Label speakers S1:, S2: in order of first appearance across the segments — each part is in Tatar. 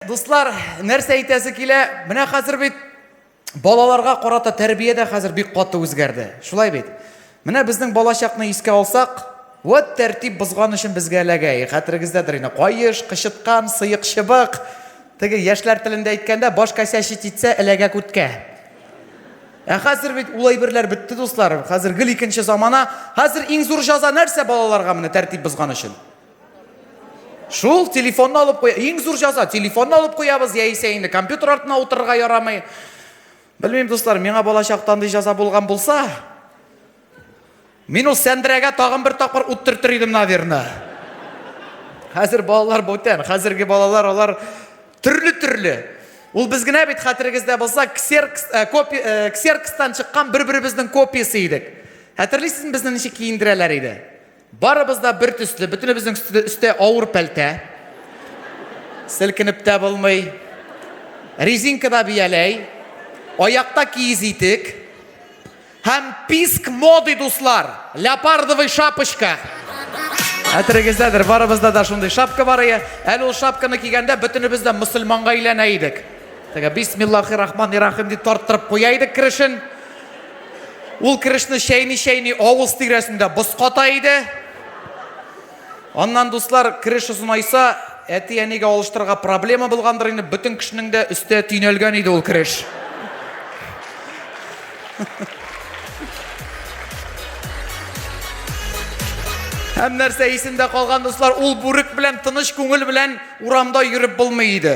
S1: Дуслар, нәрсә әйтәсе килә? Менә хәзер бит балаларга карата тәрбия дә хәзер бик каты үзгәрде. Шулай бит. Менә безнең балачакны искә алсак, вот тәртип бозган өчен безгә эләгә. Э, хәтерегездәдер инде, каеш, кычыткан, сыек чыбык. Теге яшьләр телендә әйткәндә, баш кәсәчи титсә эләгә күткә. Ә хәзер бит улай берләр бетте, дуслар. Хәзер гел икенче замана. Хәзер иң зур җаза нәрсә балаларга менә тәртип бозган өчен? Шул телефонны алып куя. Иң зур җаза телефонны алып куябыз яисә инде компьютер артына утырырга ярамый. Белмим, дуслар, миңа бала чактан ди җаза булган булса, мин ул сәндерәгә тагын бер тапкыр ут төртер идем, наверное. Хәзер балалар бүтән, хәзерге балалар алар төрле-төрле. Ул без генә бит хәтерегездә булса, ксеркс, э, копи, э, ксеркстан чыккан бер-беребезнең копиясе идек. Хәтерлисезме безне ничек киендерәләр иде? Барыбыз да бер төсле, бөтенебезнең өсте, өстә авыр пәлтә. Селкенеп тә булмый. Резинкада бияләй, аякта киез итек. Һәм писк моды, дуслар, леопардовый шапочка. Хәтерегездәдер, барыбызда да шундый шапка бар иде. Әле ул шапканы кигәндә бөтенебез дә мөселманга әйләнә идек. Теге бисмиллахи рахмани рахим дип тарттырып куя идек керешен. Ул керешне чәйни-чәйни авыз тирәсендә боската иде. Аннан, дуслар, кереш озынайса, әти-әнигә алыштырырга проблема булгандыр инде, бөтен кешенең дә өстә төйнәлгән иде ул кереш. Һәм нәрсә исемдә калган, дуслар, ул бүрек белән тыныч күңел белән урамда йөреп булмый иде.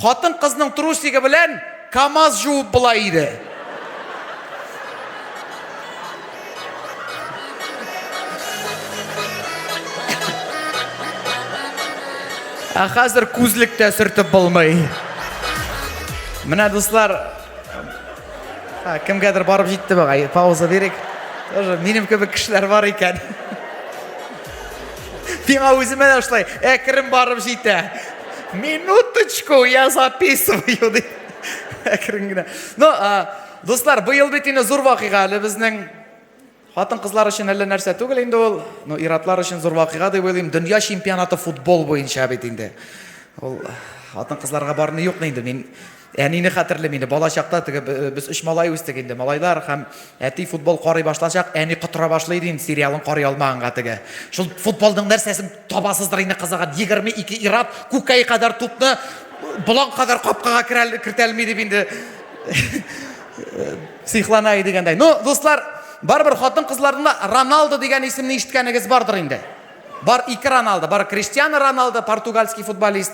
S1: Хатын кызның трусигы белән камаз жуып була иде. Ә хәзер күзлек тә сөртеп булмый. Менә дуслар, ә, кемгәдер барып җитте бугай, пауза бирик. Тоже минем кебек кешеләр бар икән. Сиңа үземә дә шулай әкрен барып җитә. Минуточку, я записываю ди. Әкрен генә. Ну, дуслар, быел бит инде зур вакыйга әле безнең хатын кызлар өчен әллә нәрсә түгел инде ул. Ну, иратлар өчен зур вакыйга дип уйлыйм. Дөнья чемпионаты футбол буенча бит инде. Ул хатын кызларга барны юкмы инде мин Әнине хәтерлим инде, бала чакта теге без өч малай үстек инде, малайлар һәм әти футбол карый башлачак, әни котыра башлый иде инде сериалын карый алмаганга теге. Шул футболның нәрсәсен табасыздыр инде кызыган, 22 ирап күккәй кадәр тупны болан кадәр капкага кертәлми дип инде сихлана иде дигәндәй. Ну, дуслар, барыбер хатын-кызларның Роналдо дигән исемне ишеткәнегез бардыр инде. Бар ике Роналдо, бар Криштиану Роналдо, португальский футболист.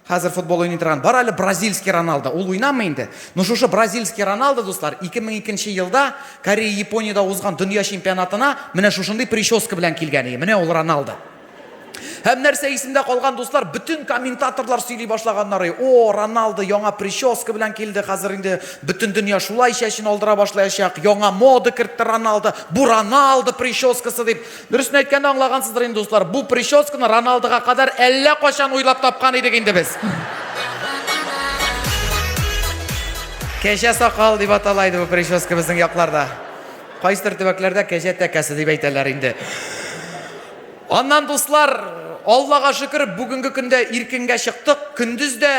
S1: Хәзер футбол уйный торган, бар әле бразильский Роналдо. Ул уйнамый инде. Ну шушы бразильский Роналдо, дуслар, 2002 елда Корея Япониядә узган дөнья чемпионатына менә шушындый прическа белән килгән иде. Менә ул Роналдо. Һәм нәрсә исемдә калган дуслар, бөтен комментаторлар сөйли башлаганнары. О, Роналдо яңа прическа белән килде, хәзер инде бөтен дөнья шулай чәчен алдыра башлаячак. Яңа мода кертте Роналдо. Бу Роналдо прическасы дип Дөресен әйткәндә аңлагансыздыр инде дуслар, бу прическаны Роналдога кадәр әллә кайчан уйлап тапкан идек инде без. Кәҗә сакал дип атала иде бу прическа безнең якларда. Кайсыдыр төбәкләрдә кәҗә тәкәсе дип әйтәләр инде. Аннан дуслар, Аллага шөкер, бүгенге көндә иркенгә чыктык, көндез дә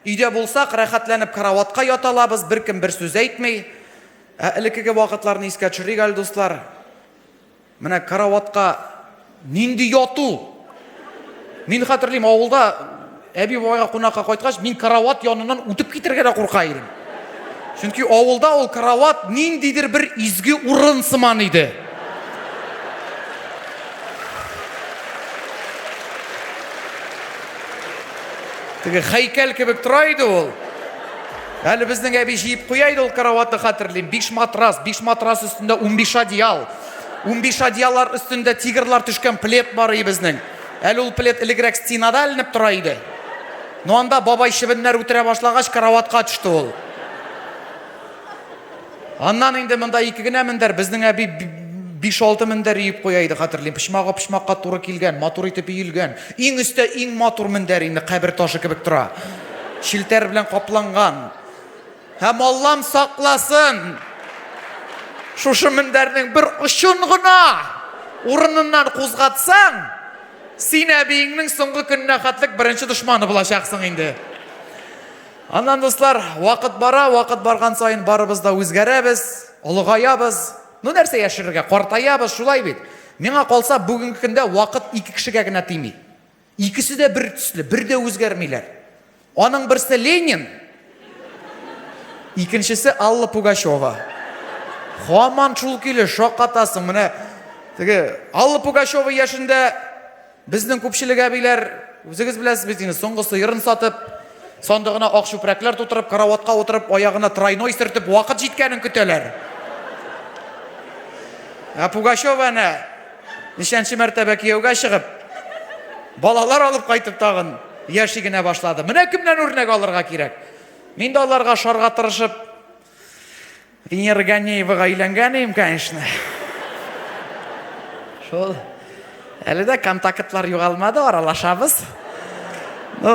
S1: өйдә булсак, рәхәтләнеп караватка ята алабыз, беркем бер сүз әйтми. Ә элеккеге вакытларны искә төшерик әле, дуслар. Менә караватка нинди яту! Мин хәтерлим, авылда әби бабайга кунакка кайткач, мин карават яныннан үтеп китергә дә курка идем. Чөнки авылда ул карават ниндидер бер изге урын сыман иде. Теге хәйкәл кебек тора иде ул. Әле безнең әби җыеп куя иде ул караватны, хәтерлим. Биш матрас, биш матрас өстендә унбиш одеял. Унбиш одеяллар өстендә тигрлар төшкән плед бар иде безнең. Әле ул плед элегрәк стенада эленеп тора иде. Ну анда бабай чебеннәр үтерә башлагач, караватка төште ул. Аннан инде монда ике генә мендәр, безнең әби биш-алты мендәр иеп куя иде, хәтерлим. Почмагы почмакка туры килгән, матур итеп иелгән. Иң өстә иң матур мендәр инде, кабер ташы кебек тора. Челтәр белән капланган. Һәм Аллам сакласын! Шушы мендәрнең бер очын гына урыныннан кузгатсаң, син әбиеңнең соңгы көненә хәтлек беренче дошманы булачаксың инде. Аннан, дуслар, вакыт бара, вакыт барган саен барыбыз да үзгәрәбез, олыгаябыз. Ну, нәрсә яшерергә, картаябыз, шулай бит. Миңа калса, бүгенге көндә вакыт ике кешегә генә тими. Икесе дә бер төсле, бер дә үзгәрмиләр. Аның берсе Ленин, икенчесе Алла Пугачева. Хаман шул килеш шакатасың, менә теге Алла Пугачева яшендә Безнең күпчелек әбиләр, үзегез беләсез бит инде, соңгы сыерын сатып, сандыгына ак чүпрәкләр тутырып, караватка утырып, аягына тройной сөртеп, вакыт җиткәнен көтәләр. Ә Пугачева әнә ничәнче мәртәбә кияүгә чыгып, балалар алып кайтып тагын яши генә башлады. Менә кемнән үрнәк алырга кирәк. Мин дә аларга шарга тырышып, Венера Ганеевага өйләнгән идем, конечно. Шул. Әле дә контактлар югалмады, аралашабыз. Ну,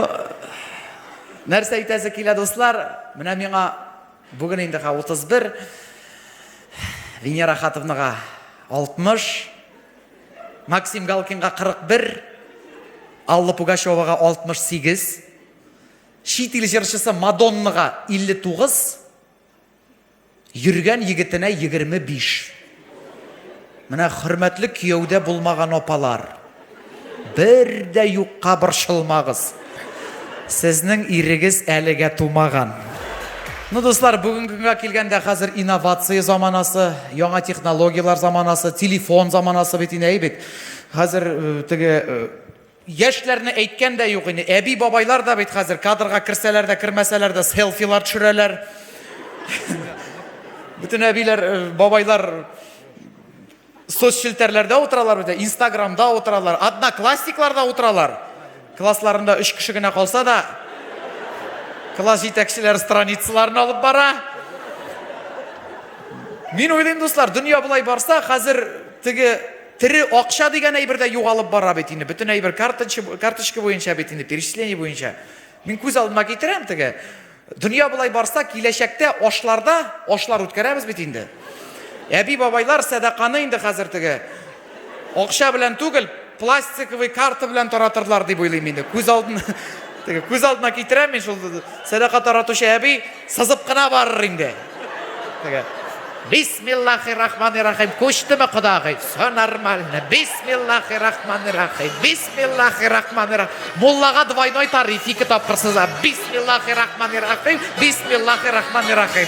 S1: нәрсә әйтәсе килә, дуслар? Менә миңа бүген инде 31, Венера Хатовнага 60, Максим Галкинга 41, Алла Пугачевага 68. Чит ил җырчысы Мадоннага 59, йөргән егетенә 25. Менә хөрмәтле кияүдә булмаган апалар, бер дә юкка борчылмагыз. Сезнең ирегез әлегә тумаган. Ну, дуслар, бүгенге көнгә килгәндә, хәзер инновация заманасы, яңа технологияләр заманасы, телефон заманасы бит инде, әй бит. Хәзер теге Яшьләрне әйткән дә юк инде, әби бабайлар да бит хәзер кадрга керсәләр дә кермәсәләр дә селфилар төшерәләр. Бөтен әбиләр, бабайлар соцчелтәрләрдә утыралар бит, инстаграмда утыралар, одноклассникларда утыралар. Классларында өч кеше генә калса да, класс җитәкчеләре страницаларны алып бара. Мин уйлыйм, дуслар, дөнья болай барса, хәзер теге Тере акча дигән әйбер дә югалып бара бит инде, бөтен әйбер карточы, карточка буенча бит инде, перечисление буенча. Мин күз алдыма китерәм теге, дөнья болай барса, киләчәктә ашларда ашлар үткәрәбез бит инде. Әби-бабайлар сәдаканы инде хәзер теге акча белән түгел, пластиковый карта белән таратырлар дип уйлыйм инде. Күз алдына, теге, күз алдына китерәм мин шул сәдака таратучы әби, Сызып кына барыр инде. Теге. Бисмиллахи рахмани рахим. Күчтеме кодагый? Все нормально. Бисмиллахи рахмани рахим. Бисмиллахи рахмани рахим. Муллага двойной тариф ике тапкыр сыза. Бисмиллахи рахмани рахим. Бисмиллахи рахмани рахим.